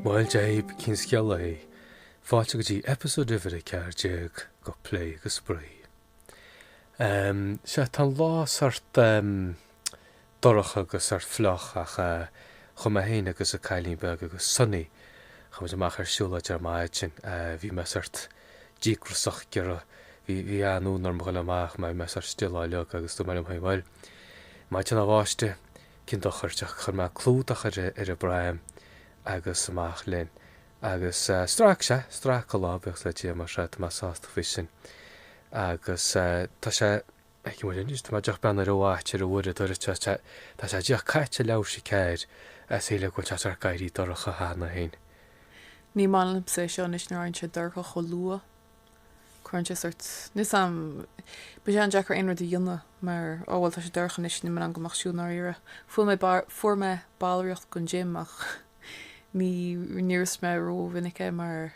Bhuel, Dave, cén scéal é. Fáilte go dtí episode uimhir 14 de Plé agus Spraoi. Ehm, sea, tá an lá sort, ehm, dorcha agus sort fliuch ach eh chuaigh mé féin agus an cailín beag agus Sonny chuaigh muid amach ar siúlóid ar maidin eh bhí mé sort díograiseach gur bhí bhí an-fhonn orm a dhoil amach mar bhí mé sort still á leag agus dúirt mé liom féin bhuel maidin bháistí cén dochar ach chuir mé clúdach ar ar an bpraim agus amach linn agus eh strac sé strac an lá buíochas le Dia mar tá mé sásta faoi sin agus eh tá sé Feicfidh muid anois, tá mé díreach ag breathnú ar an watch, ar an uaireadóir seo, sea, tá sé díreach caite leathuair tar éis a ceathair, shílfeá go bhfuil sé sórt ag éirí dorcha cheana féin. Ní maith liomsa é seo anois nuair a éiríonn sé dorcha chomh luath. Cuireann sé sort, níl 's a'm, bíonn sé an-deacair aon rud a dhéanamh mar, ó bhuel, tá sé dorcha anois, níl mé in ann goil amach ag siúl i ndáiríre. Fuair mé, fuair mé ballraíocht gon gym ach ní, ní úsáidim ró mhinic é mar,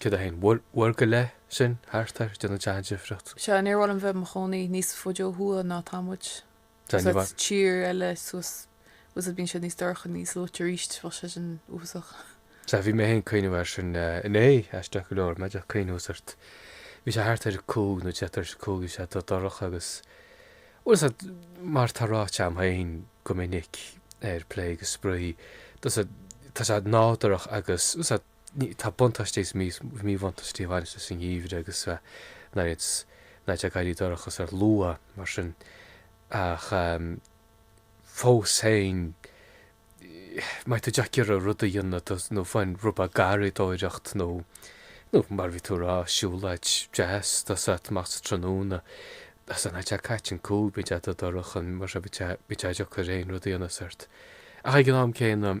101. Uair go leith sin thart air, déanann sé an-difríocht. Seadh, níor mhaith liom bheith 'mo chónaí níos fuide ó thuaidh ná atá muid. Sea, ní bheadh. tír eile suas usa bíonn sé níos dorcha, níos luaite aríst, bheadh sé sin uafasach. Sea, bhí mé fhéin 'cuimhneamh air sin inné, aisteach go leor, mé díreach a' cuimhniú sort. Bhí sé thart ar a cúig nó deich tar éis a cúig, bhí sé dubh dorcha agus, bhuel sea, mar tá ráite a'm fhéin go minic ar Plé agus Spraoi, tá a fhios agat, tá sé nádúrach agus, sea, Tá buntáistí agus míbhuntáistí a bhaineas leis an gheimhreadh agus na laethanta ag éirí dorcha sort luath, mar sin, ach fós féin, má tá tú díreach ag iarraidh rud a dhéanamh, nó fiú amháin rud beag garraíodóireacht, nó mar a bhí tú a rá, siúlóid deas, tá a fhios agat, amach sa tráthnóna, is nuair atá sé caite an cúig, bíonn sé dorcha, mar sin, bíonn sé deacair aon rud a dhéanamh sort. Ach ag an am céanna.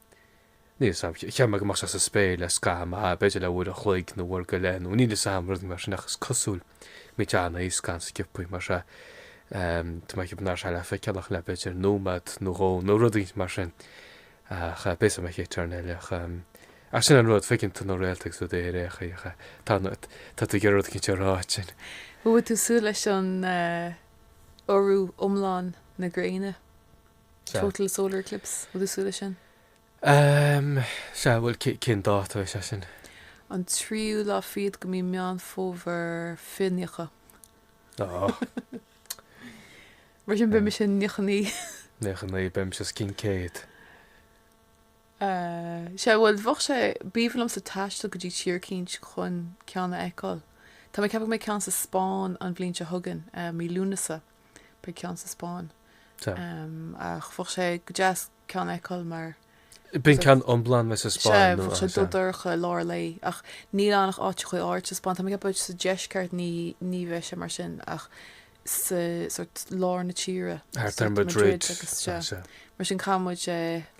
Níl a fhios agam ach sa spéir le scaitheamh maith, b'fhéidir le uair an chloig nó uair go leith nó níl a fhios a'm, rud mar sin ach is cosúil, mé téann sé as go han-sciopaí mar sea, tá mé ag ceapadh nach raibh sé le feiceáil ach le b'fhéidir nóimeád nó dhó nó rud éigint mar sin ach b'fhios a'm a Chéitioirnéil ach ach sin an rud, feiceann tú na réalta agus tú ar éacht ach tá tá tá tú ag rud éigint a rá ansin. Bhfuil tú ag súil leis an urú iomlán na gréine. Sea. Total solar eclipse, bhfuil tú ag súil leis sin. Ehm, sea, bhuel, cén dáta is ea sin? An tríú lá fichead de mhí Meán Fómhair fiche nócha. Ó. Mar sin beidh mise nócha naoi. Nócha naoi, beidh mise os cionn céad. Eh, sea, bhuel, bheadh sé b'aoibhinn liomsa taisteal go dtí tír eicínt chun ceann a fheiceáil. Tá mé ag ceapadh go mbeidh ceann sa Spáinn an bhliain seo chugainn, eh, mí Lúnasa. Beidh ceann sa Spáinn. Tá. Ach bheadh sé go deas ceann a fheiceáil mar. Bíonn ceann iomlán mé sa Spáinn nó. Bheadh sé dubh dorcha i lár lae. Ach níl ann ach áiteachaí áirithe sa Spáinn. Táim ag ceapadh sa deisceart ní ní bheidh sé mar sin ach sa sort lár na tíre. Thart ar Madrid agus seo. Mar sin caithfidh muid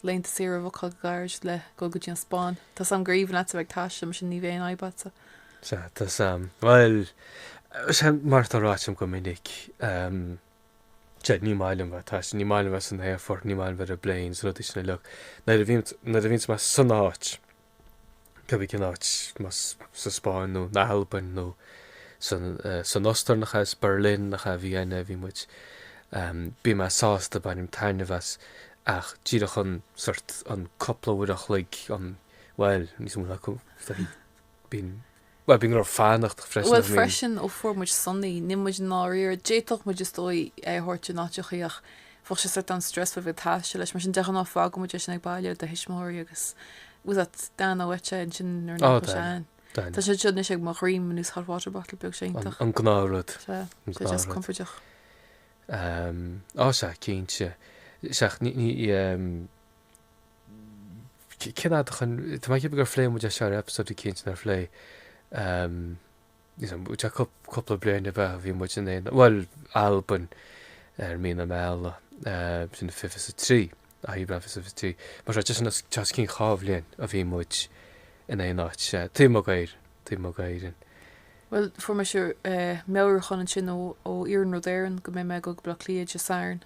laethanta saoire a bhookáil go gairid le dhul go dtí an Spáinn. Tá a fhios agam gur aoibhinn leatsa bheith ag taisteal mar sin ní bheidh aon fhadhb agatsa. Sea, tá a fhios agam. Bhuel, sea, mar atá ráite agam go minic, sea, ní maith liom bheith ag taisteal, ní maith liom bheith san aerfort, ní maith liom bheith ar an bplane, rudaí sin uilig. Nuair a bhíonn, nuair a bhíonn mé san áit, cibé cén áit, más sa Spáinn nó in Albain nó san, san Ostair nach ea, Berlin nach ea, Vienna a bhí muid, bíonn mé sásta, bainim taitneamh as, ach díreach an, sórt, an cúpla uair an chloig, an, bhuel, níos mó ná cúpla, Bíonn, bhuel, bíonn go leor fanacht freisin, Bhuel, I mean. freisin, ó fuair muid Sonny, ní muid, i ndáiríre, d'fhéadfadh muid, is dóigh, é a thabhairt in áiteachaí ach bheadh sé sort an stress bheith ag taisteal leis, mar sin, de ghnáth, fágann muid eisean ag baile le do thuismitheoirí agus it was that Dan Oweta ansin nuair nach bhfuil sé ann. Tá sé anseo anois ag mo dhroim ar nós hot water bottle beag sé iontach. An gnáth rud. Sea, sé deas compordach. Sea, cinnte. Sách, ní, ní, Cén fhad ó shin, tá mé ag ceapadh gur phléigh muid é seo ar eipeasóid eicínt nár phléigh, ní dóigh, bhí sé cúpla bliain ó bhí, ó bhí muid in aon, bhuel, Albain ar mhí na meala, sin 23, Aibreán 23, mar sin, tá sé os cionn dhá bhliain ó bhí muid in aon áit, taobh amuigh d'Éirinn, taobh amuigh d'Éirinn. Bhuel, fuair mise meabhrúchán ansin ó Iarnród Éireann go mbeidh mé ag goil go Bleá Cliath Dé Sathairn,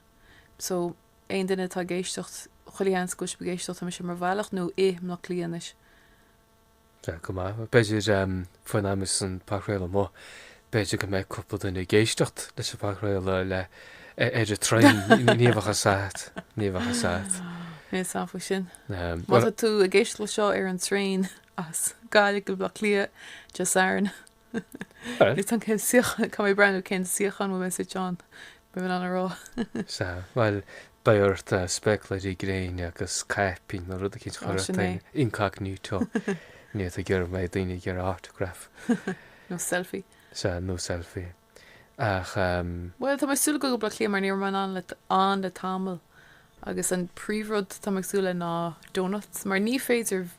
so aon duine atá ag éisteacht, chuile sheans go bhfuil sibh ag éisteacht, tá mise ar mo bhealach, nó i mBleá Cliath anois. Sea, go maith. B'fhéidir, faoin am a bheas an podchraoladh amuigh, b'fhéidir go mbeidh cúpla duine ag éisteacht leis an bpodchraoladh le, ar an traein, ní bheadh a fhios a't, ní bheadh a fhios a't. Níl a fhios agam faoi sin. Má tá tú ag éisteacht leis seo ar an traein as Gaillimh go Bleá Cliath, Dé Sathairn, Níl a fhios agam cén suíochán, caithfidh mé breathnú, cén suíochán bhfuil mé suite ann, le bheith in ann a rá. Sea, bhuel, beidh ort spéaclaírí gréine agus caipín nó rud eicínt chur ort féin, incognito, nó tá tú ag iarraidh go mbeidh daoine ag iarraidh autograph. Nó selfie. Sea, nó selfie. Ach. Bhuel, tá mé ag súil le ghoil go Baile Átha Cliath mar ní raibh mé ann le tamall agus an príomhrud atá mé ag súil le ná donuts mar ní féidir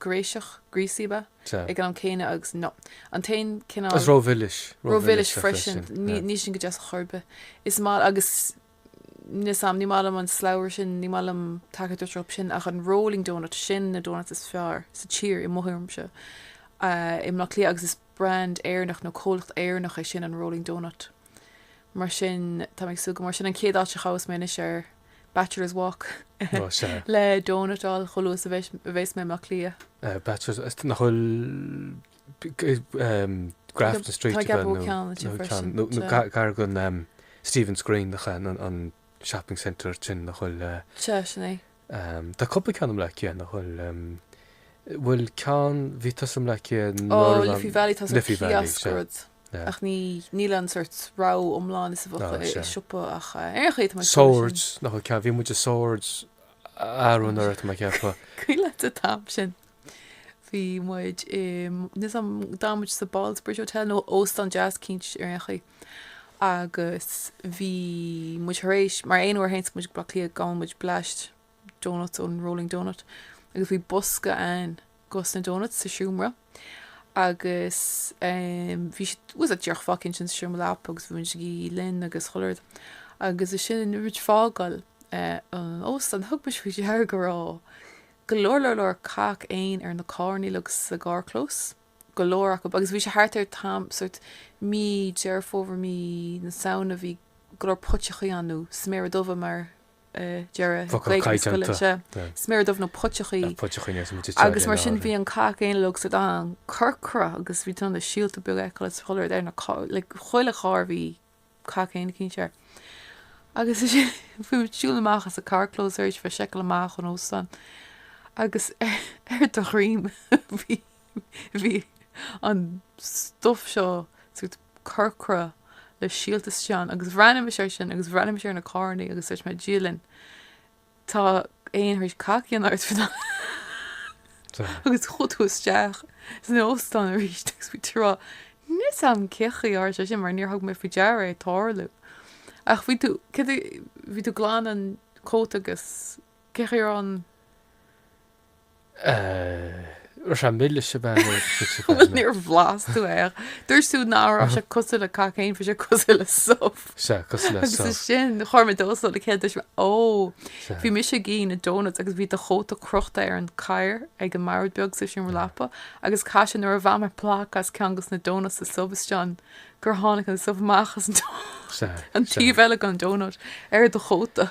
gréiseach, greasy, bia. Sea. Ag an am céanna agus nó. An t-aon cineál. Is rómhilis, rómhilis Rómhilis freisin. freisin. Ní Yeah. níl sin go deas chor bith. Is maith agus níl a fhios agam ní maith liom an slabhra sin, ní maith liom tada den rud sin ach an rolling doughnut sin na doughnuts is fearr sa tír i mo thuairimse. I mBleá Cliath agus is brand Éireannach nó comhlacht Éireannach é sin an Rolling Doughnut. Mar sin, táim ag súil go mór. Sin an chéad áit a ghabhfas mé anois ar Bachelor's Walk le donut a fháil chomh luath is a bheas mé i mBaile Átha Cliath. Bachelor's nach bhfuil Grafton Street Tá, ceapaim nó- ceann ansin nó- freisin, nó- nó tá. gar- gar don, em, Stephen's Green nach é, an- an shopping centre sin nach bhfuil, eh, Sea, sin é. Tá cúpla ceann i mBleá Cliath nach bhfuil, bhfuil ceann, bhí tusa i mBleá Cliath nuair a. Ó, Liffey Valley, tá sea, kiosk. Ach ní, níl an sórt rogha iomlán is a bheadh i siopa ach ar aon chaoi tá muid fós in. Swords, nach bhfuil ceann, bhí muid i Swords, aon uair amháin, tá mé ag ceapadh. Cuimhin leat an t-am sin. Bhí muid i níl a fhios agam d'fhan muid sa Ballsbridge Hotel nó óstán deas eicínt ar aon chaoi agus bhí muid thar éis mar aon uair théanns muid go Baile Átha Cliath gabhann muid bleaist donuts ón Rolling Donut agus bhí bosca againn de na donuts sa seomra agus bhí siad díreach fágtha againn sa seomra leapa agus bhí muid ag ithe linn agus chuile rud agus ansin nuair a bhí muid ag fágáil an óstán thug muid faoi deara go raibh go leor leor leor cac éin ar na carrannaí uilig sa gcarrchlós, go leor acub, agus bhí sé thart ar an am, sórt mí Deireadh Fómhair, mí na Samhna, bhí go leor puiteachaí ann, nó sméara dubha mar a deir Focal Gaeilge na scoile caighdeánta. anseo, Tá. sméara dubh nó puiteachaí. Tá puiteachaí níos mó de Agus mar sin bhí an cac éin uilig sórt an-chorcra agus bhí tú in ann na síolta beaga a fheiceáil is chuile rud ar na, like, chuile charr bhí cac éin eicínt air. Agus bhí tú ag siúl amach sa gcarrchlós tar éis seiceáil amach ón óstán. Agus ar do dhroim bhí bhí an stuff seo sórt corcra le síolta istigh ann. Agus bhreathnaigh mise air sin agus bhreathnaigh mise ar na carrannaí agus dúirt mé, Dia linn. Tá éan tar éis cac a dhéanamh ort agus chuaigh tú isteach san óstán arís agus bhí tú a rá, 'Níl a fhios agam cén chaoi ar tharla sé sin mar níor thug mé faoi deara é a tarlú. Ach bhí tú, céard é, bhí tú glan an cóta agus cén chaoi a raibh an. Eh, raibh sé mile sibh ann ar an City Bus. Bhuel, níor bhlas tú é, ach dúirt tú ná raibh sé cosúil le cac éin, bhí sé cosúil le subh. Sea, cosúil le subh. Agus sin, chuir mé dó is dó le chéile, dúirt mé, Ó, bhí mise ag ithe na donuts agus bhí do chóta crochta ar an gcathaoir ag an mbord beag sa sin rlapa, agus caithfidh sé nuair a bhain mé plaic as ceann de na donuts, subh istigh ann, gur tháinig an subh amach as an taobh eile den donut ar do chóta.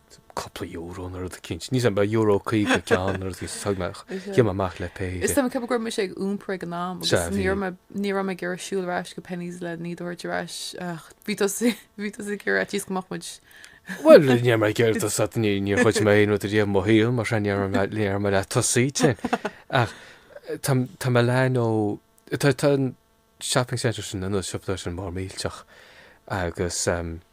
cúpla euro nó rud eicínt. Níl a fhios agam, euro caoga an ceann nó rud eicínt. Thug mé, shiúil mé amach le pé. Is tá mé ag ceapadh go raibh mise ag iompar ag an am agus ní raibh mé, ní raibh mé ag iarraidh siúl ar ais go Penneys lena dtabhairt ar ais ach bhí tusa, bhí tusa ag iarraidh ar fhaitíos go mbeadh muid. Bhuel, ní raibh mé ag iarraidh tosú, níor ghoid mé aon rud ariamh i mo shaol, mar sin ní raibh mé, ní raibh mé le tosaí ansin. Ach tá, tá Milano, tá, tá an shopping centre sin, an siopa dó sin, mór millteach agus,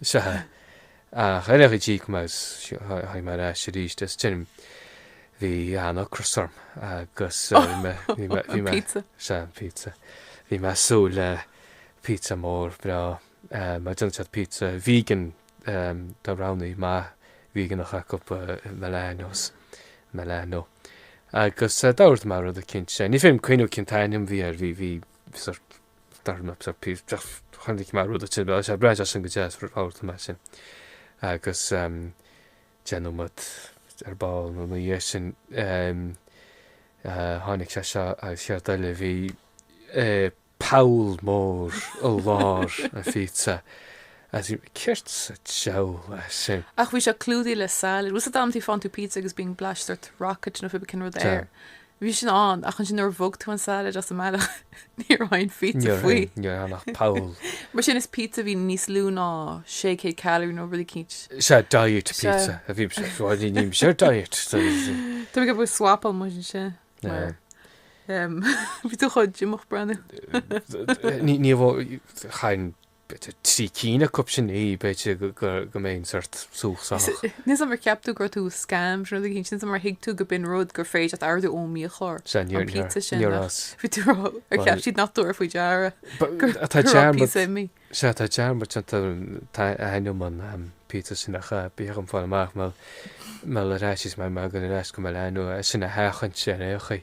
Is ea, ach ar aon chaoi d'íoc mé is chuaigh mé ar ais arís. Is cuimhin liom bhí an-ocras orm agus bhí mé, sea, an pizza, bhí mé ag súil le pizza mór breá. Mar déanann siad pizza vegan, tá roghannaí maith víoganach acu, Milanos, Milano. Agus d'ordaigh mé rud eicínt. Ní féidir liom cuimhneamh cén t-ainm a bhí air, bhí sórt D'ordaigh mé pizza, chonaic mé rud eile, sea, breathnaíonn sé sin go deas, ordóidh mé sin. Agus deich nóiméad ar ball nó ina dhiaidh sin tháinig sé seo agus céard eile, bhí poll mór i lár an phíotsa. Is céard sa diabhal é sin? Ach bhí sé clúdaithe le salad. Bhfuil a fhios agat amantaí faigheann tú píotsa agus bíonn blaisteart, rocket nó cibé cén rud air. Bhí sin ann, ach ansin nuair a bhog tú an salad as an mbealach, ní raibh aon phíotsa faoi. Ní raibh ann ach poll. Mar sin, is píotsa a bhí níos lú ná 600 calorie nó rud eicínt. Sea, diet pizza a bhí ann. Bhuel, ní raibh mise ar diet. Tá mé ag ceapadh gur swapáil muid ansin, mar bhí tú chomh díomách ag breathnú. Ní, ní, chaithfinn b'fhéidir trí cinn acu sin a ithe, b'fhéidir go mbeinn sort subhach sách. Níl a fhios agam ar cheap tú go raibh tú scam, sin rud eicínt, níl a fhios agam ar thuig tú go b'in rud gur féidir leat a ordú ón mbiachlár, Sea, níor, an níor, pizza sin, níor as. Bhí tú ag rá, ar cheap siad nach dtabharfaí faoi deara, gur tá dearmad, pizza mi. Sea, tá dearmad déanta agam ainm an, pizza sin ach bíag an fáil amach me me le ráis is má tá muid ag dul ar ais go Milano, sin a sheachaint ar aon chaoi.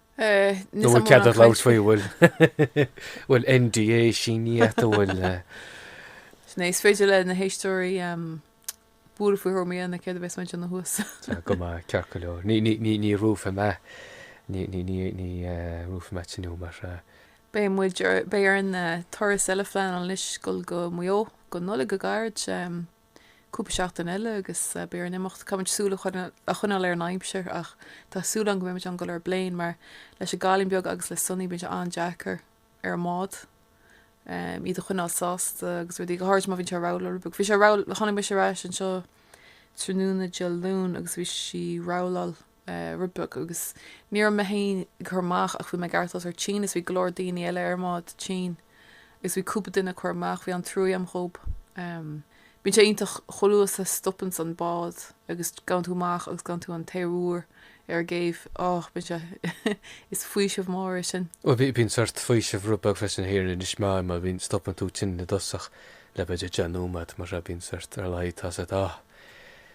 Nó bhfuil cead ort labhairt faoi bhfuil NDA sínithe, bhfuil. Sin é, is féidir le na héisteoirí buille faoi thuairim ina céad a bheas muid ina thuas. Go maith, ceart go leor. Ní luafaidh mé, ní luafaidh mé tinn fhiú mar. Beidh muid, beidh orainn turas eile a phleanáil anois dul go Maigh Eo, go Nollaig go gairid. cúpla seachtain eile agus beidh orainn imeacht. Caithfimid súil a choinneáil ar an aimsir ach tá súil a'm go mbeidh muid in ann goil ar an bplane mar leis an gcailín beag agus le Sonny bíonn sé an-deacair ar an mbád iad a choinneáil sásta agus rudaí go háirid má bhíonn sé ag rolláil rud beag. Bhí sé rogha, tháinig mise ar ais anseo tráthnóna Dé Luain agus bhí sí ag rolláil Rud beag, agus ní raibh mé féin ag cur amach ach bhí mé ag aireachtáil sórt tinn is bhí go leor daoine eile ar an mbád tinn agus bhí cúpla duine ag cur amach, bhí an-truaí a'm dhóibh. Bíonn sé iontach chomh luath is a, stopanns an bád agus gabhann tú amach agus gabhann tú an t-aer úr ar an gcéibh, oh, bíonn sé, is faoiseamh mór é sin. Bhuel, bíonn sórt faoiseamh rud beag freisin thiar in Inis Meáin mar bíonn, stopann tú tinn i dtosach le b'fhéidir deich nóiméad mar sea, bíonn sórt, ar a laghad tá sórt ah,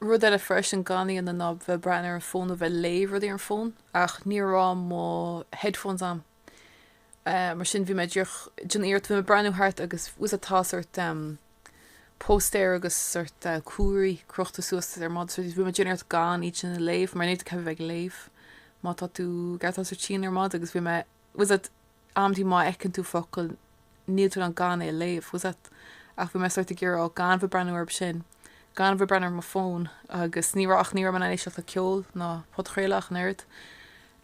Rud eile freisin gan a bheith in ann a bheith ag breathnú ar an fón nó bheith ag léamh rudaí ar an fón. Ach ní raibh mo headphones a'm. Eh mar sin bhí mé ag díreach déanamh iarracht bhí mé ag breathnú thart agus tá a fhios a'd tá sort em póstaeir agus sort eh comharthaí crochta suas ar an mbád so bhí mé ag déanamh iarracht gan iad sin a léamh mar níl tú ceaptha a bheith ag léamh má tá tú ag aireachtáil sort tinn ar an mbád agus bhí mé tá a fhios a'd Amantaí má fheiceann tú focal níl tú in ann gan é a léamh, tá a fhios a'd? Ach bhí mé sórt ag iarraidh, oh, gan a bheith ag breathnú orthu sin, gan a bheith ag breathnú ar mo fón agus ní raibh, ach ní raibh mé in ann éisteacht le ceol ná podchraoladh ach an oiread.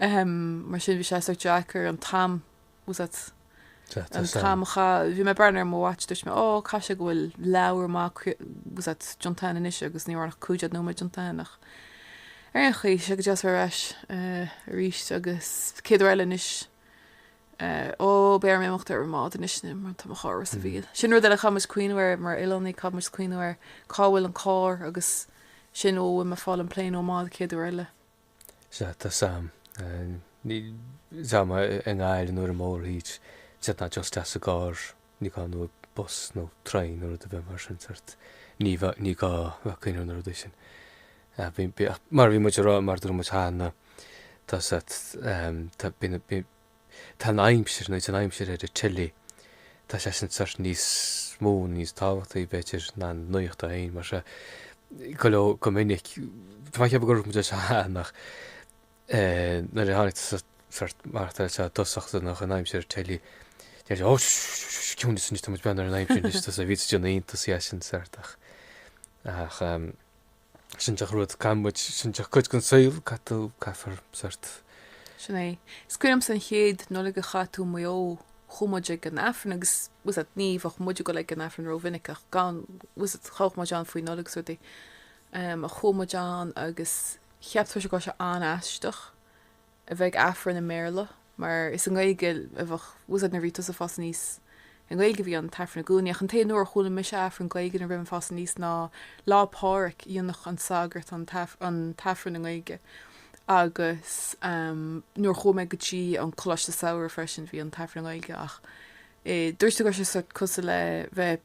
Ahem, mar sin bhí sé sórt deacair an t-am, tá a fhios a'd? An t-am a chaitheamh, bhí mé ag breathnú ar mo watch, dúirt mé, oh, caithfidh sé go bhfuil leathuair mhaith, tá a fhios a'd, déanta a'inn anois agus ní raibh ach cúig déag nóiméad déanta a'inn ach ar aon chaoi, tá sé go deas a bheith ar ais arís agus an chéad uair eile anois. Ó, beidh orm imeacht ar an mbád anois nó mar tá mo charr i Ros an Mhíl. Sin rud eile, caithfidh muide cuimhniú air, mar oileánaigh, caithfidh muide cuimhniú air, cá bhfuil an carr agus sin, ó, bhfuil mé fáil an plane nó an bád an chéad uair eile. Sea, tá a fhios a'm. Ní, tá a fhios a'm, i nGaillimh nó ar an mórthír, sé ná just isteach sa gcarr. Ní gá nó bus nó traein nó rud ar bith mar sin, cert? Ní gá, ní gá bheith ag cuimhniú ar na rudaí sin. Ah, bhí, bhí, ach mar bhí muid ag rá, mar dúirt muid cheana, tá sa, ehm, tá, bhí, bhí, tá an aimsir, nó an aimsir ar an tele, tá sé sin cert níos mó, níos tábhachtaí, b'fhéidir, ná an nuacht í féin, mar se, go leor, go minic, tá mé ag ceapadh gur dhúirt muid é cheana, ach, Nuair a tháinig tusa amach i dtosach do nach an aimsir ar an teilí deir sé, ó, ciúnas anois, tá muid breathnú ar an aimsir anois, tá sé bhí sé déanamh iontas de sin sórt ach ach sin díreach rud gan muid sin díreach cuid gon saol caithfidh tú caithfear sórt. Sin é. Is cuimhin liomsa an chéad Nollaig a chaith tú i Maigh Eo chuaigh muid ag an Aifreann agus tá's agat ní bheadh muide ag goil ag an Aifreann ró mhinic ach go tá's agat ghabhfadh muid ann faoi Nollaig is rudaí. Um ach chuaigh muid ann agus Cheap tusa go raibh sé an-aisteach a bheith ag Aifreann i mBéarla mar is i nGaeilge a bheadh, tá's agat, nuair a bhí tusa ag fás aníos, i nGaeilge a bhí an tAifreann i gcónaí ach an t-aon uair a chuala mise Aifreann Gaeilge nuair a bhí mé ag fás aníos ná Lá Pádhraic, dhéanadh an sagart an an tAifreann i nGaeilge agus nuair a chuaigh mé go dtí an coláiste samhraidh freisin bhí an tAifreann i nGaeilge ach dúirt tú go raibh sé sórt cosúil le bheith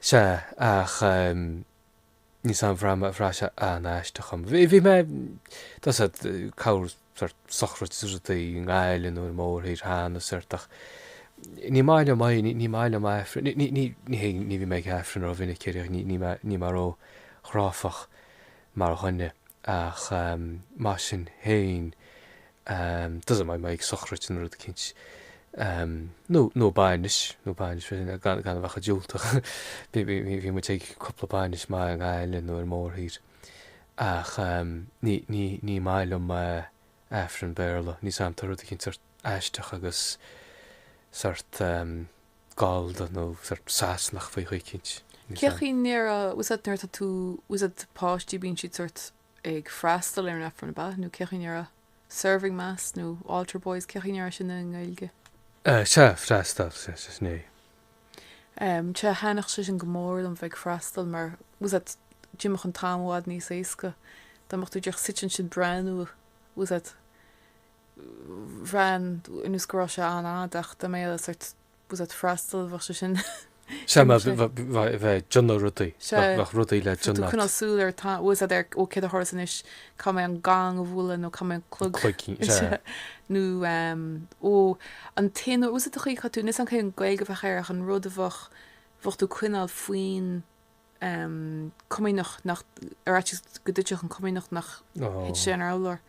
Sea, ach ehm. níl fhios a'm, bhraith sé an-aisteach dhom. Bhí, bhí mé, tá's agat, ag corr sórt sochraid is rudaí i nGaillimh nó ar an mórthír cheana sórt ach ní maith liom aoi, ní maith liom aifreann, ní, ní, ní hé, ní bhíodh mé ag aifreann rómhinic ariamh ach ní, níl mé, níl mé róchráifeach mar dhuine. Ach mar sin féin, tá's agat, dá mbeadh mé ag sochraid nó rud eicínt, nó nó bainis, nó bainis mar sin, gan gan a bheith chomh diúltach, bhí bhí bhí muid ag cúpla bainis amuigh i nGaillimh nó ar mórthír, ach ní ní ní maith liom Aifreann Béarla, níl fhios a'm, tá rud eicínt sórt aisteach agus sórt, gallda nó sórt Sasanach faoi nó rud eicínt. Cé chaoi a ndéarfá, tá's agat nuair atá tú, tá's agat páistí bíonn siad sórt ag freastal ar an Aifreann, ab ea? Nó cé chaoi a ndéarfá, serving mass nó altar boys, cé chaoi a ndéarfá sin i nGaeilge? Eh, sea, freastal, sea, sea, sea. Em, sea, thaitneodh sé sin go mór liom bheith ag freastal mar, tá's agat, d'imeodh an t-am i bhfad níos éasca dá mbeadh tú díreach suite ansin breathnú, tá's agat, bhreathnaigh ar nós go raibh sé an-fhada ach dá mbeadh sórt tá's agat ag freastal bheadh sé sin Sea, má bheadh bheadh bheadh ag déanamh rudaí, sea, bheadh bheadh rudaí le déanamh. coinneáil súil ar tá's agat ar ó céard a tharlós anois caithfidh mé an gong a bhualadh nó caithfidh mé an clog cloigín, sea. sea, nó ehm ó an t-aon uair tá's agat a chaithfeadh tú níl fhios a'm cén Ghaeilge a bheadh air ach an rud a bheadh bheadh tú coinneáil faoin Comaoineach nach, ar fhaitíos go dtuitfeadh an Comaoineach nach thuit sé ar an urlár.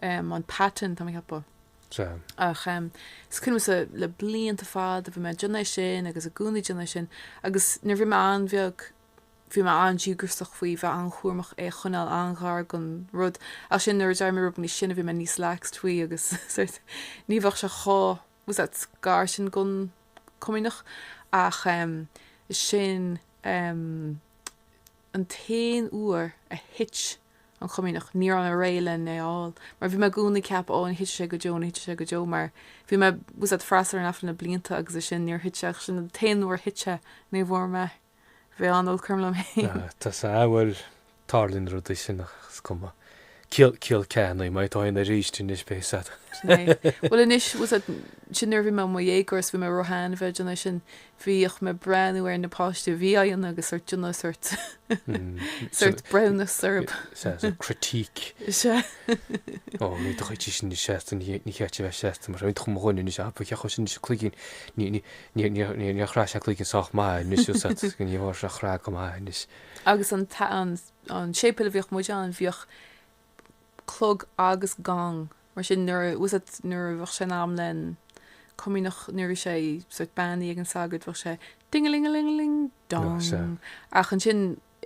An paten tá mé ceapadh. Sea. Ach is cuimhin liomsa le blianta fada bhí mé déanamh é sin agus i gcónaí déanamh é sin agus nuair bhí mé an-bheag bhí mé an-díograiseach faoi bheith an-chúramach é a choinneáil an-ghar don rud ach sin nuair a d'éirigh mé rud beag níos sine bhí mé níos laxed faoi agus sórt ní bheadh sé chomh fhios agat gar sin gon comaoineach ach sin an t-aon uair a thit an comaoineach ní raibh mé réidh lena fháil mar bhí mé i gcónaí ag ceapadh ó ní thitfidh sé go deo ní thitfidh sé go deo mar bhí mé fhios agat ag freastal ar an aifreann le blianta agus é sin níor thit sé ach sin an t-aon uair a thit sé ní bhfuair mé bhí an-olc orm liom fhéin. Tá sé awful tarlaíonn rudaí sin ach is cuma. Ciall, ciall ceannaithe, má tharlaíonn aríst anois beidh fhios agat. Sin é. Bhuel anois, bhuel sa, sin nuair a bhí mé i mo dhéagóir is bhí mé róshean a bheith ag déanamh sin, bhíodh mé ag breathnú ar na páistí a bhí á dhéanamh agus sórt ag déanamh sórt, sórt breithiúnas orthab. Sea, sórt critique. Sea. Ó, ní dóigh tí sin níos seasta, ní, ní cheart di bheith seasta mar sin, bhí tú chomh dhona anois, á, ba cheart dhó sin anois, cloigín, ní, ní, Níor chraith sé an cloigín sách maith anois fhios agat ní bhfuair sé chraith go maith anois. Agus an an séipéal a bhíodh muid ann bhíodh clog agus gong mar sin nuair a fhios agat nuair a bheadh sé in am le haghaidh an comaoineach nuair a bhí sé sort beannaithe ag an sagart bheadh sé dingalingalingaling dong ach ansin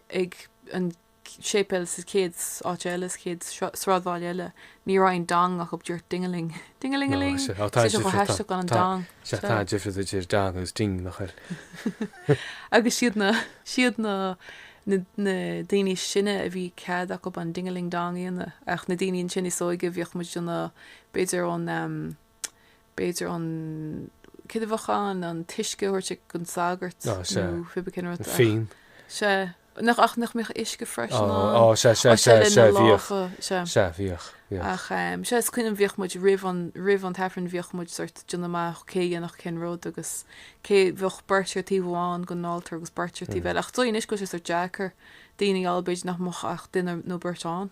ag an séipéal sa chéad áit eile, sa chéad sráidbhaile eile, ní raibh aon dong acub díreach ding-a-ling, ding-a-ling-a-ling. Sé seo chomh haisteach gan an dong. Sea, tá an difear idir dong agus ding, nach bhfuil? Agus siad na, siad na, na daoine is sine a bhí cead acub an ding-a-ling-dong a dhéanamh, ach na daoine ansin is óige a bhíodh muid ag déanamh, b'fhéidir an, b'fhéidir an cineamhachán, an t-uisce a thabhairt ag an sagart Ná nó sea. pé bith cén rud An ach fíon. sea, nach, ach nach mbíodh uisce freisin Ó, ann. ó, sea, sea, Ó, sea, sea, lena sea, bhíodh. lámha, sea. Sea, bhíodh, bhíodh. Ach em, sea, is cuimhin liom bhíodh muid roimh an, roimh an tAifreann bhíodh muid sort ag déanamh amach cé a dhéanfadh cén rud agus cé, bheadh beirt ar taobh amháin den altar agus beirt ar taobh eile ach is dóigh anois go bhfuil sé sort deacair daoine a fháil b'fhéidir nach mbeadh ach duine nó beirt ann.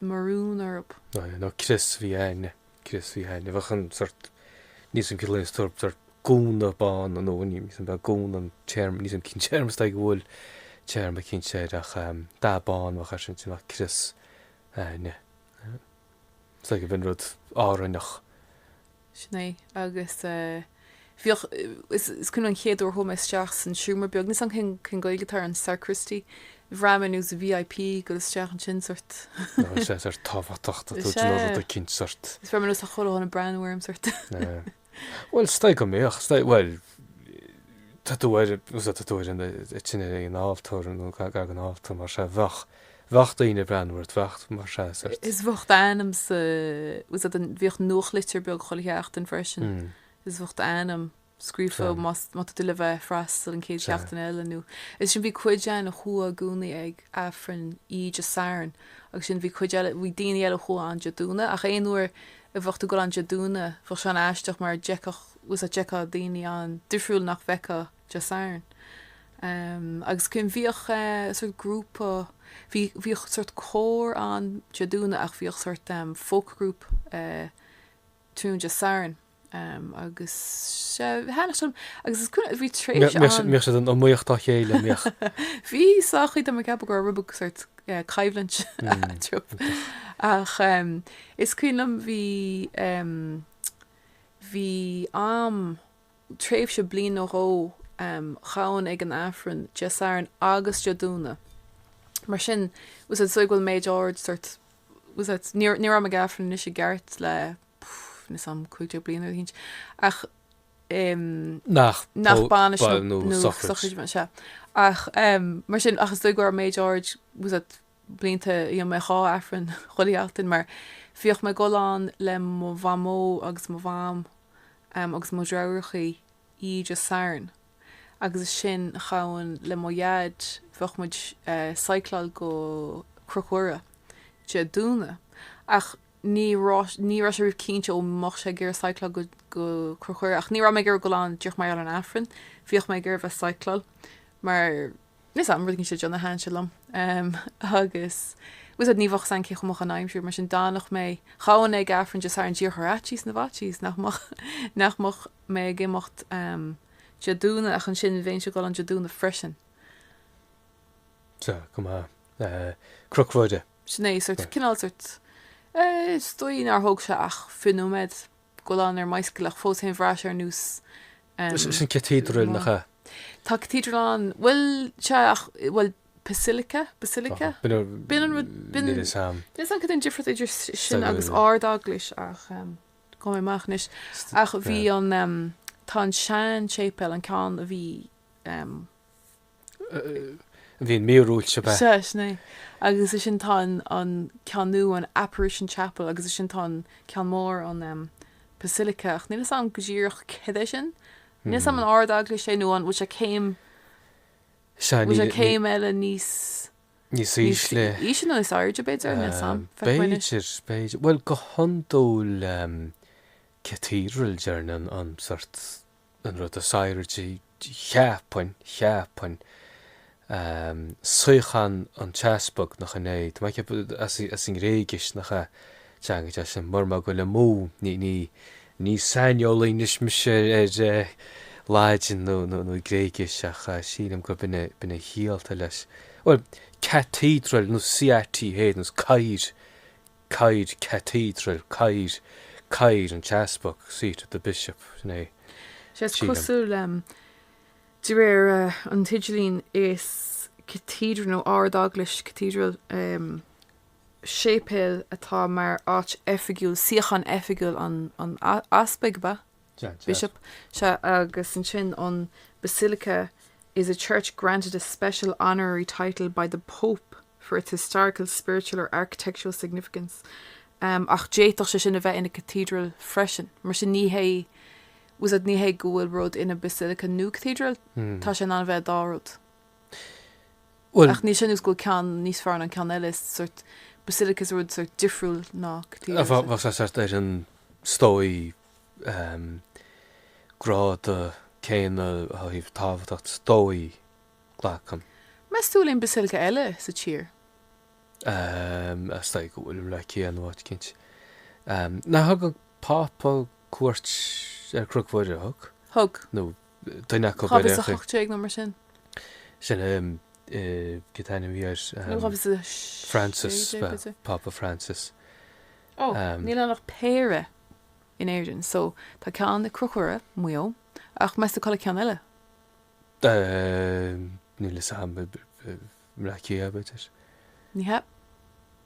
maroon orthab. nó crios fiáine, crios fiáine, a bheadh an sort, níl 's agam cineál aon sort, sort gúna bán nó ní, níl 's agam ab é gúna an téarma, níl 's agam cén téarma is dóigh go bhfuil téarma cinnte air ach dath bán bheadh air sin bheadh crios fiáine. Is dóigh gurb in rud Árainneach. Sin é. Agus bhíodh, is cuimhin liom an chéad uair a chuaigh mé isteach san seomra beag, níl 's agam cén Ghaeilge atá ar an sacristy, bhraith mé nós VIP ag dul isteach ansin sórt. Nó is é sórt tábhachtach tá tú Is ag déanamh rud é. eicínt sórt. Is bhraith mé nós chuile dhuine ag breathnú orm sórt. Bhuel is dóigh go mbíodh, is dóigh, bhuel tá tú ar, fhios agat tá tú ansin ar an altóir nó gar don altóir mar sin bheadh, Bheadh daoine ag breathnú ort, bheadh, mar sin sort. Is bheadh d'ainm sa, bhfuil 'fhios a'd an, bhíodh nuachtlitir beag chuile sheachtain freisin. Is bheadh d'ainm, scríofa, más, má tá tú le bheith freastal an chéad seachtain eile nó. Is ansin bhí cuid ann a chuaigh i gcónaí ag Aifreann, oíche Dé Sathairn agus ansin bhí cuid eile, bhí daoine eile a chuaigh ann Dé Domhnaigh ach aon uair a bheadh tú ag dul ann Dé Domhnaigh bheadh sé an-aisteach mar d'fheicfeadh, bhfuil 'fhios a'd d'fheicfeá daoine ann difriúil nach bhfeicfeá Dé Sathairn. Agus cuimhin, bhíodh sort grúpa, bhí, bhíodh sort cór ann Dé Domhnaigh ach bhíodh sort folk group tráthnóna Dé Sathairn agus sea, tháinig siad ann agus is cuimhin, bhí tréimhse ann. Bhíodh, bhíodh siad in iomaíocht dá chéile, bhíodh. Bhí sách, tá mé, ag ceapadh go raibh rud beag sort coimhlint tiubh ach is cuimhin liom bhí, bhí am, tréimhse bliain nó dhó ghabhainn ag an Aifreann Dé Sathairn agus Dé Domhnaigh. Mar sin, bhfuil 'fhios a'd is dóigh go bhfuil méid ard sort bhfuil 'fhios a'd ní ní raibh mé ag Aifreann anois i gceart le níl 'fhios a'm 15 bliana ar hint ach um nach nach bainis nó sochraid é ach um mar sin ach is dóigh go bhfuil méid ard bhfuil 'fhios a'd blianta bhí mé ag dhá aifreann chuile sheachtain mar bhíodh mé ag dul ann le mo mhamó agus mo mham agus mo dheartháireachaí oíche Dé Sathairn agus ansin ghabhainn le mo dhaid bheadh muid cycláil go Cnoc Mhuire Dé Domhnaigh ach ní raibh ní raibh sé riamh cinnte an mbeadh sé ag iarraidh cycláil go go Cnoc Mhuire ach ní raibh mé ag iarraidh dul ann díreach mar gheall ar an aifreann bhíodh mé ag iarraidh bheith cycláil mar Níl 'fhios a'm go nse deonaithe thaitin sé liom agus bhfuil 'fhios a'd ní bheadh 'fhios a'm cé chomh maith an aimsir, mar sin d'fhanfadh mé ghabhainn ag Aifreann just ar an díreach ar fhaitíos na bhfaitíos nach mbeadh nach mbeadh mé ag imeacht Dé Domhnaigh ach ansin bheinnse ag dul ann Dé Domhnaigh freisin. Sea, go maith. Cnoc Mhuire. Sin é, sort, cineál sort, eh, is dóigh nár thóg sé ach fiche nóiméad. ag dul ann ar an mbicycle ach fós féin bhraith sé ar nós Sin cathedral nach ea? Tá cathedral ann. Bhuel, sea ach, bhuel, basilica, basilica? B'in an rud, b'in. Níl 'fhios a'm. Níl 'fhios a'm cad é an difríocht idir sin agus Ard-Eaglais ach gheobhaidh mé amach anois. Ach bhí an, tá an sean-tséipéal, an ceann a bhí, bhí an mhíorúilt seo bheith. Sea, sin é. Agus ansin tá an, an ceann nua, an Apparition Chapel agus ansin tá an ceann mór, an em, Basilica, ach níl 'fhios a'm go díreach cad é sin. Níl 'fhios a'm an Ard-Eaglais é nó an, bhfuil sé céim, Sea, bhfuil sé céim eile níos, níos ísle. Níos ísle nó níos airde b'fhéidir, níl 'fhios a'm. B'fhéidir, b'fhéidir. Bhuel go hiondúil em, cathedral deireann an, an sort. an rud is airde, cheapfainn, cheapfainn, suíochán an t-easpag, nach in é? Tá mé ag ceapadh, as, as an nGréigis, nach ea? Teanga deas sin, mura bhfuil mé ag goil amú, ní, ní, ní saineolaí anois mise ar, ar eh, Laidin nó, nó, nó Gréigis ach eh, sílim gurb in é, b'in é an chiall atá leis. Bhuel, cathedral nó CATH nós cathaoir, Cathaoir, Cathedral, cathaoir, cathaoir an t-easpag, Seat of the Bishop, an ea? Sea is Sílim. cosúil de réir an t-idirlíon is Cathedral nó Ard-Eaglais, Cathedral, séipéal atá mar áit oifigiúil, suíochán oifigiúil an Easpaig, ab ea? Dead, dead. Bishop, sea, agus ansin an Basilica is a church granted a special honorary title by the Pope. for its historical, spiritual or architectural significance, ach d'fhéadfadh sé sin a bheith ina cathedral freisin. Mar sin ní hé, was it, ní hé go bhfuil rud ina basilica nó cathedral, tá sé in ann a bheith an dá rud. Ach níl sé ar nós go bhfuil ceann níos fearr ná an ceann eile, is sort basilica is rud sort difriúil ná cathedral is é. Bheadh sé sort ar an is dóigh grád céanna ó thaobh tábhachtacht is dóigh Glacaim. Meas tú an bhfuil aon basilica eile sa tír? Is dóigh go bhfuil ceann in áit eicínt. Nár thug an Pápa cuairt ar Cnoc Mhuire, ar thug? Thug. Nó duine acu i 2018 nó mar sin. Sin é cén t-ainm a bhí air? Nó 2016 Francis, ab ea, b'fhéidir. Pápa Francis. Ó, níl ann ach péire in Éirinn. So, tá ceann i gCnoc Mhuire, Maigh Eo, ach meas tú cá bhfuil an ceann eile? Níl 'fhios a'm. I mBleá Cliath, b'fhéidir? Ní hea.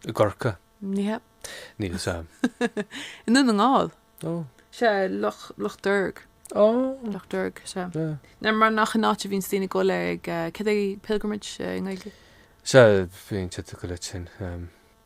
I gCorcaigh? Ní hea. Níl 'fhios a'm. I nDún na nGall? Ó. Sea, Loch, Loch Derg. Ó. Loch Derg, sea. Sea. Nó mar nach in an áit a bhíonns daoine ag goil ag, céard é pilgrimage i nGaeilge? Sea, bhíonn siad ag goil ansin.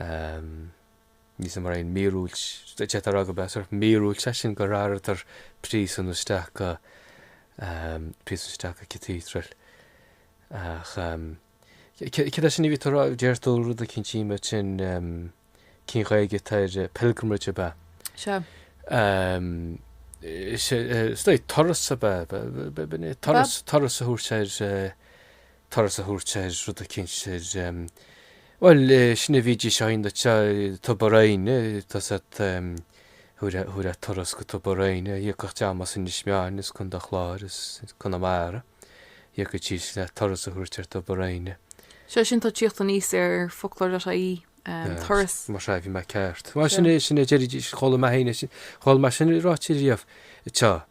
Níl 'fhios a'm mar aon míorúilt a tharla, ach ba sort míorúilt é sin gur athraíodar príosún isteach go, príosún isteach go Cathedral. Ach céard é sin a bhí tú a rá, dúirt tú rud eicínt mar sin, cén Ghaeilge atá ar pilgrimage ab ea? Sea. Sea, is dóigh, turas ab ea, b'in é, turas, turas a thabhairt ar, turas a thabhairt ar rud eicínt ar, bhuel, sin a bhídís a dhéanamh sa Tobar Éinne, tá 'fhios a'd thabharfá, thabharfá turas go Tobar Éinne, thiocfadh dream as Inis Meáin is Contae an Chláir is Conamara, thiocfaidís le turas a thabhairt ar Tobar Éinne. Sea, sin atá ag tíocht aníos ar foclóir.ie, turas. Mar sin, bhí mé ceart. Bhuel, sin é, sin é a deiridís, chuala mé féin é sin, chuala mé sin ráite riamh. Sea.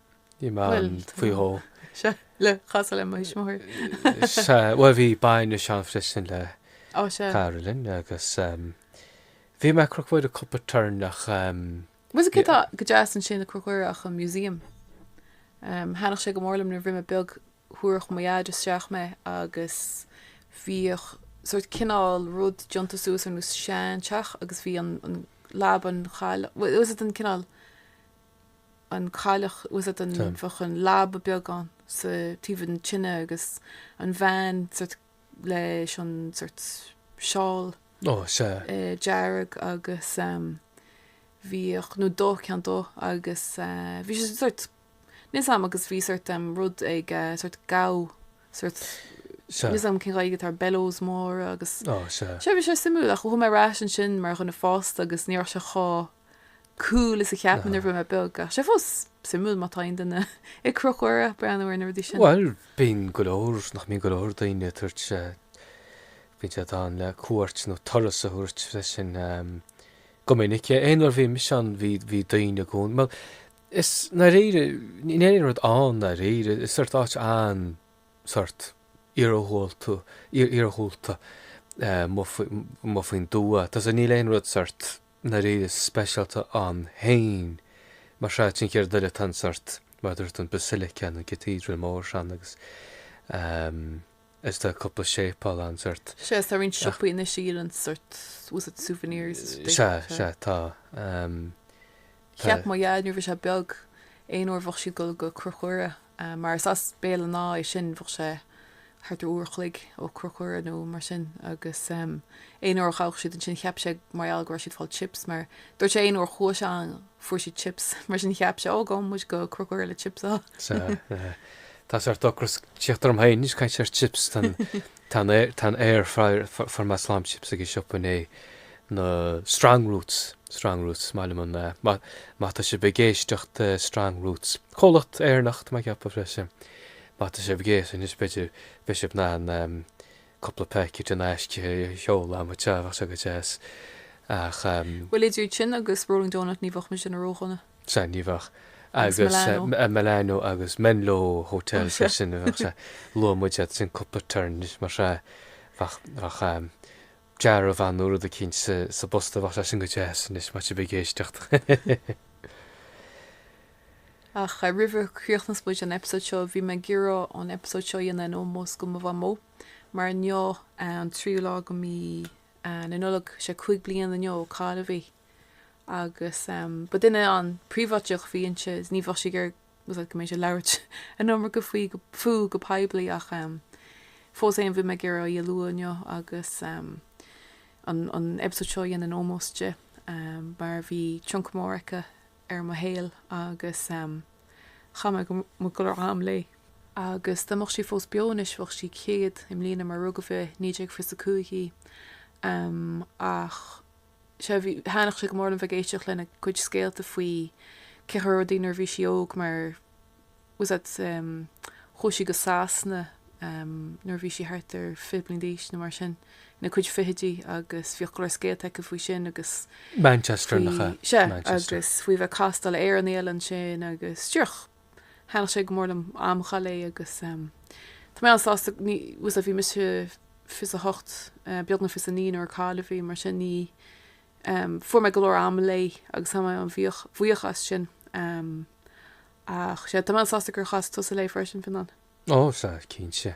Ní maith faoi dhó. Sea, le casadh le mo thuismitheoir. Sea, bhuel bhí baint ag Seán freisin le Caroline agus bhí mé ag Cnoc Mhuire cúpla turn ach. Bhuel is céard atá go deas ansin ag Cnoc Mhuire ach an museum. Thaitníodh sé go mór liom nuair a bhí mé beag, thabharfadh mo dhaid isteach mé agus bhíodh sort cineál rud déanta suas ar nós sean teach agus bhí an leaba an chailleach, was it an cineál an cailleach was it an bheadh an leaba beag ann sa taobh an tine agus an bhean sort leis an sort seál dearg agus bhíodh nó dó ceann dó agus bhí sé sort níl a fhios agam agus bhí sort rud ag sort gabh sort níl a fhios agam cén Ghaeilge atá ar bellows mór agus sé bhí sé suimiúil ach chuaigh mé ar ais ansin mar dhuine fásta agus ní raibh sé chomh cool is a cheap nuair a bhí mé beag ach sé fós suimiúil má tá aon duine ag Cnoc Mhuire breathnú ar na rudaí sin. Bhuel, bíonn go leor, nach mbíonn go leor daoine ag tabhairt, bíonn siad ann le cuairt nó turas a thabhairt freisin go minic. Aon uair a bhí mise ann bhí daoine i gcónaí, bhuel, is ndáiríre, níl aon rud ann ndáiríre, is sort áit an, sort, iargúlta, iargúlta, amuigh faoin dtuath, tá, so níl aon rud sort, ndáiríre speisialta ann féin. Mar sé sin céard eile atá ann sort, mar a dúirt an Basilica, nó Cathedral mór sin agus ehm, is tá cúpla séipeál ann sort. Sea, is tá roinnt siopaí anois a dhíolann sort, was it souvenirs? Sea, sea, tá. Ehm. Cheap mo Dhaid nuair bhí sé beag, aon uair bheadh siad dul go Cnoc Mhuire, mar is as Béal an Átha é sin, bheadh sé thart ar uair a chloig ó Cnoc Mhuire nó mar sin agus aon uair a ghabhadh siad ansin cheap sé mar gheall go raibh siad fáil chips mar dúirt sé aon uair chuaigh sé ann fuair siad chips mar sin cheap sé ó gabhfaidh muid go Cnoc Mhuire le chips a Tá sort ocras tíocht orm féin anois caint ar chips tá an Tá an air, tá an air fuair, fuair mé slám chips ag an siopa inné, na strong roots, strong roots, maith liom an, má, má tá sibh ag éisteacht eh, strong roots, comhlacht Éireannach tá mé ag ceapadh freisin, má tá sibh ag éis, anois b'fhéidir, bheidh sibh in ann em, cúpla packet in aisce a sheoladh ag mo theach, bheadh sé go deas ach em, Bhuel idir sin agus Rolling Donut ní bheadh mise déanamh ródhona. Sea ní bheadh agus Milano. Milano agus Menlo Hotel sin é sea. Luaigh muid iad sin cúpla turn mar sin. Bheadh bheadh dearbhán nó rud eicínt sa sa bpost a bheadh sé sin go deas anois má tá sibh ag éisteacht. Ach roimh a chríochnas muid an eipeasóid seo bhí mé ag iarraidh an eipeasóid seo a dhéanamh in ómós go mo mhamó mar inniu an tríú lá go mí na Nollag sé cúig bliain inniu ó cailleadh í. Agus ba duine an-phríobháideach a bhí inti, ní bheadh sí ag iarraidh go mbeinnse ag labhairt an iomarca faoi fúithi go poiblí ach fós féin bhí mé ag iarraidh í a lua inniu agus an eipeasóid seo a dhéanamh in ómós di mar bhí tionchar mór aici ar mo shaol agus chaith mé mo go leor am léi. Agus dá mbeadh sí fós beo anois bheadh sí céad i mbliana mar rugadh i naoi déag fiche is a cúig í ach, sea, bhí, thaitníodh sé go mór liom bheith ag éisteacht lena cuid scéalta faoi cén chaoi a raibh rudaí nuair a bhí sí óg mar was that um chuaigh sí go Sasana um nuair a bhí sí thart ar fiche bliain d'aois nó mar sin, ina cuid fichidí agus bhíodh go leor scéalta aici faoi sin agus Manchester faoi, nach ea? sea, Manchester. agus faoi bheith ag castáil ar Éireannaigh eile ansin agus díreach. Thaitníodh sé go mór liom am a chaitheamh léi agus tá mé an-sásta ní, was it, bhí mise fiche is a hocht, beagnach fiche is a naoi nuair a cailleadh í, mar sin ní, fuair mé go leor ama léi agus tá mé an-bhuíoch as sin. Ach, sea, tá mé an-sásta gur chas tusa léi freisin, Fionán. Ó, sea, cinnte.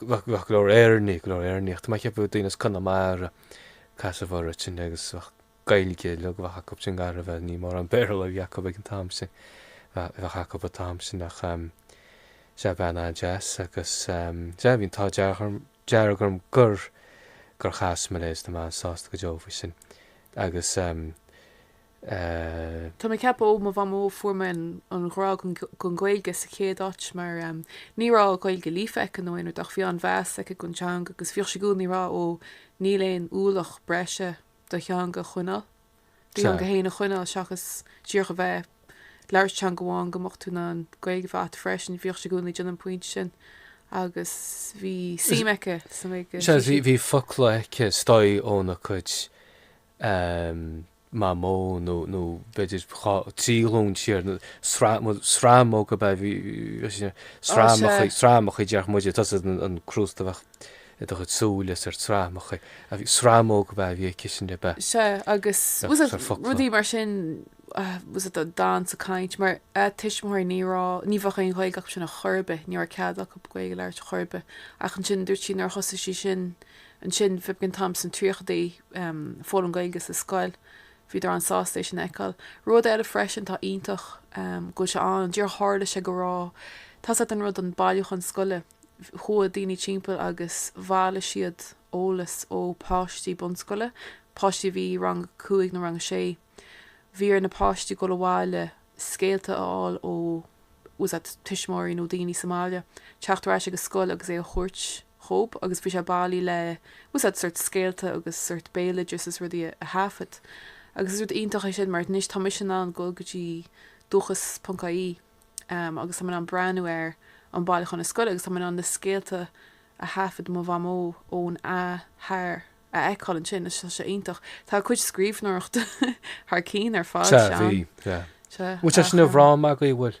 Bheadh go leor Éireannaigh, go leor Éireannaigh ach tá mé ag ceapadh daoine as Conamara a casadh uirthi ansin agus bheadh Gaeilge uilig a bheadh acu sin gar a bheith ní mórán Béarla a bhí acu ag an t-am sin, a bheadh acu an t-am sin ach sea, bean an-deas agus sea, bhí an t-ádh dearg orm gur gur chas mé léi, is tá mé sásta go deo faoi sin agus. Tá mé ag ceapadh ó mo mhamó a fuair mé an ghrá don Ghaeilge sa chéad áit mar ní raibh Gaeilge líofa aici nó aon rud ach bhí an-mheas aici don teanga agus bhíodh sí i gcónaí ag rá ó níl aon ualach breise do theanga a choinneáil, do theanga féin a choinneáil seachas díreach a bheith ag labhairt teanga amháin go mbeadh tú in ann Gaeilge a bheith agat freisin. Bhíodh sí i gcónaí ag déanamh an pointe sin agus bhí suim aici sa nGaeilge, sea sea. Bhí focla aici is dóigh óna cuid em, mamó nó, nó b'fhéidir dhá, trí ghlún siar nó sraith, bhuel, sramóga ab ea, bhí, bhí sé, Á, sramachaí sea, sramachaí a déarfadh muide, tá a fhios agat an, an crústa a bheadh i do chuid súile is ar sramachaí, a bhí, sramóga ab ea a bhí aici sin ab ea. sea, agus Ach, was it sure, focla, rudaí mar sin, ah, was it an dan sa caint, mar a tuismitheoirí ní raibh, ní bheadh aon Ghaeilge acu sin a chor ar bith, ní raibh cead acu Gaeilge a labhairt a chor ar bith. Ach ansin dúirt sí nuair a thosaigh sí sin Ansin, cibé cén t-am sna tríochaidí, ag foghlaim Gaeilge sa scoil. Bhíodar an-sásta é sin a fheiceáil. Rud eile freisin atá iontach, go bhfuil sé ann, díreach tharla sé go raibh tá a fhios agat an rud an bailiúchán scoile. Chuaigh daoine timpeall agus bhailigh siad eolas ó pháistí bunscoile, páistí a bhí i rang a cúig nó rang a sé, Bhí ar na páistí dul abhaile, scéalta a fháil ó fhios agat tuismitheoirí nó daoine sa mbaile, teacht ar ais ag an scoil agus é a thabhairt dhób agus bhí sé bailithe le fhios agat sort scéalta agus sort béaloideas is rudaí a thaifead. Agus is rud iontach é sin mar anois tá mise in ann dul go dtí dúchas ponc ie agus tá mé in ann breathnú ar an bhailiúchán na scoile agus tá mé in ann na scéalta a thaifead mo mhamó óna hathair a fheiceáil ansin is tá sé iontach. Tá a cuid scríbhneoireachta thar cinn ar fad, Sea, bhí, sea. sea. Sea, Bhfuil sé ach, sin i eh, bhfráma agaibh, bhfuil?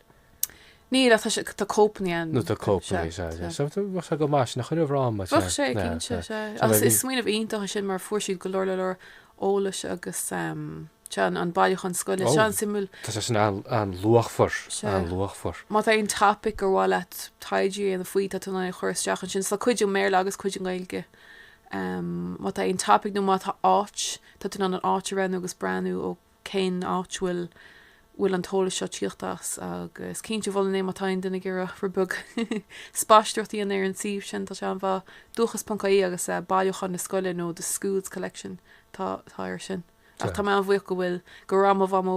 Níl, ach tá sé, tá cóipeanna ann, Nó tá cóipeanna, sea, sea, sea. sea. So, tá, bheadh sé go maith sin a chur i bhfráma, sea, Bheadh sé, sea, cinnte, sea. sea. So, Ach bheadh is bhí, smaoineamh iontach é sin mar fuair siad go leor, leor eolais agus, em, sea, an, an bailiúchán scoile. Is Ó. sé an-suimiúil, tá sé sin an, an-luachmhar, Sea. an-luachmhar. má tá aon topaic ar mhaith leat taighde a dhéanamh faoi, tá tú in ann é a chur isteach ansin. So tá cuid i mBéarla agus cuid i nGaeilge. Má tá aon topaic nó má tá áit, tá tú in ann an áit a roghnú agus breathnú ó cén áit bhfuil bhfuil an t-eolas seo tíocht as agus cinnte mholfainn é má tá aon duine ag iarraidh rud beag spaisteoireachta a dhéanamh ar an suíomh sin. Tá sé an-mhaith. Dúchas.ie agus Bailiúchán na Scoile nó The School's Collection atá atá air sin. Ach tá mé an-bhuíoch go bhfuil go raibh mo mhamó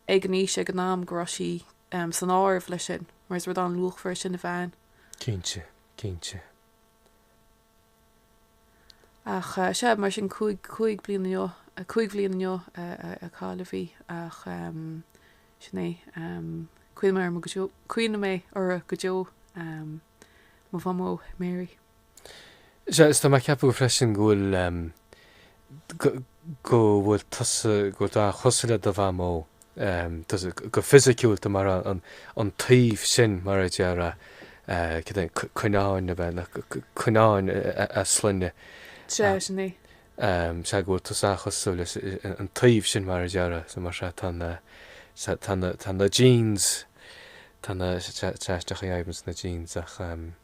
ag an aois ag an am go raibh sí san áireamh leis sin mar is rud an-luachmhar é sin a bheith ann. Cinnte, cinnte. Ach sea, mar sin, cúig, cúig bliain inniu, cúig bhliain inniu a cailleadh í ach sin é. Cuimhneoidh mé uirthi go deo, cuimhneoidh mé uirthi go deo, mo Mhamó Mary. Sea, is tá mé ag ceapadh freisin go bhfuil. go bhfuil tusa, go bhfuil tú an-chosúil le do mhamó, tusa, go fisiciúil, tú mar an taobh sin, mar a déarfá, cad é an Cuinneáin, a bheith le, Cuinneáin a sloinne. Sea, sin é. Sea, go bhfuil tusa an-chosúil leis an taobh sin, mar a déarfá, so mar sea, tá na, tá na, tá na genes, tá na, sea, isteach i adhmaid sna genes ach.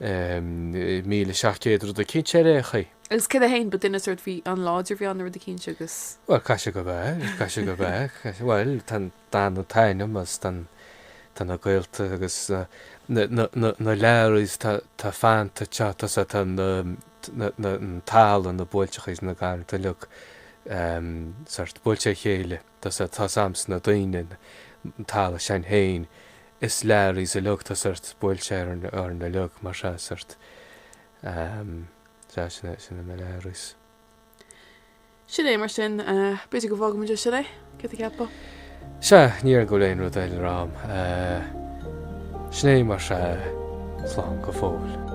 Míle seacht gcéad rud eicínt ar aon chaoi. Agus cé hé fhéin, ba duine sórt, bhí an-láidir, bhí an-rud eicínt agus. Bhuel, caithfidh sé go bheith, caithfidh sé go bheith, bhuel, tá an, an t-ainm is, tá an, tá na gaolta agus na, na, na Learaíos tá, tá fanta, tá, tá sé, tá na, na, na, an talamh, na buailteachaí is na garranta uilig sórt, buailte ar a chéile, tá sé, tá a fhios agamsa na daoine, an talamh sin fhéin, Is lear is a leag tus ort buail sé ar ar na leag mar sea sort ehm sea sin é sin é mo lear is. Sin é mar sin eh b'fhéidir go bhfágfaimid é, sin é, céard a cheapfá? Sea ní dóigh go bhfuil aon rud eile le rá a'm eh sin é mar sea slán go fóill.